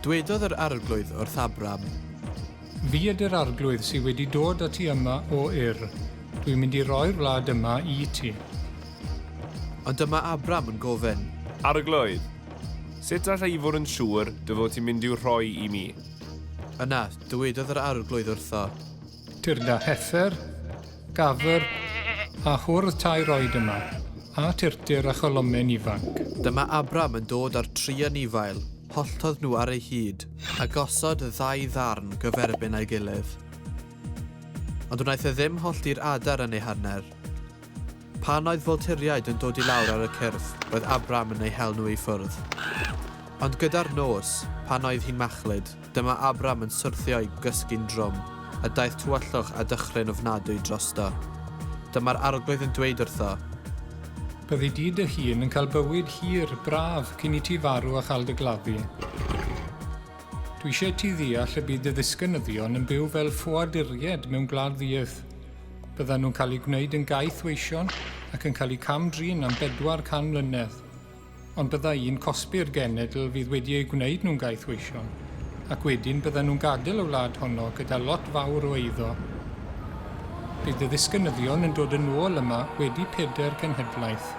Dwedodd yr Arglwydd wrth Abram. Fi ydy'r Arglwydd sydd wedi dod â ti yma o Ur. Dwi'n mynd i roi'r wlad yma i ti. Ond dyma Abram yn gofyn. Arglwydd, sut alla i fod yn siŵr dy fod ti'n mynd i'w rhoi i mi? Yna, dywedodd yr Arglwydd wrtho. Tyrda Heffer, Gafr a hwrdd tair oed yma, a Tyrtyr a Cholomen ifanc. Dyma Abram yn dod â'r tri anifail, holltodd nhw ar eu hyd, a gosod y ddau ddarn gyferbyn â'i gilydd. Ond wnaeth e ddim hollti'r adar yn ei hanner. Pan oedd Volturiaid yn dod i lawr ar y cyrff, roedd Abram yn eu hel nhw i ffwrdd. Ond gyda'r nos, pan oedd hi'n machlud, dyma Abram yn syrthio i gysgu'n drwm, a daeth tywyllwch a dychryn ofnadwy drosto. Dyma'r Arglwydd yn dweud wrtho. Byddi di dy hun yn cael bywyd hir, braf, cyn i ti farw a chael dy gladdu. Dwi eisiau i ti ddeall y bydd dy ddisgynyddion yn byw fel ffoaduriaid mewn gwlad ddiaeth. Byddan nhw'n cael eu gwneud yn gaeth weision ac yn cael eu cam-drin am bedwar can mlynedd. Ond byddai un cosbi'r genedl fydd wedi eu gwneud nhw'n gaeth weision, ac wedyn byddan nhw'n gadael y wlad honno gyda lot fawr o eiddo. Bydd dy ddisgynyddion yn dod yn ôl yma wedi pedair cenhedlaeth.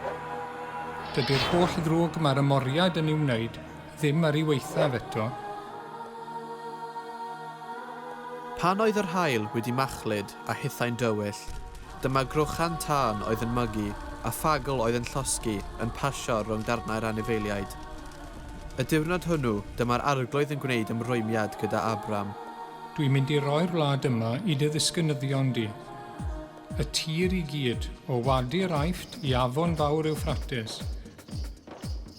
Dydy'r holl ddrwg mae'r ymoriad yn ei wneud Ddim ar ei waethaf eto. Pan oedd yr haul wedi machlud a hithau'n dywyll, dyma grochan tân oedd yn mygu a phagl oedd yn llosgi yn pasio rhwng darnau'r anifeiliaid. Y diwrnod hwnnw, dyma'r Arglwydd yn gwneud ymrwymiad gyda Abram. Dwi'n mynd i roi'r wlad yma i dy ddisgynyddion di, y tir i gyd, o wadi'r Aifft i afon fawr Ewffrates.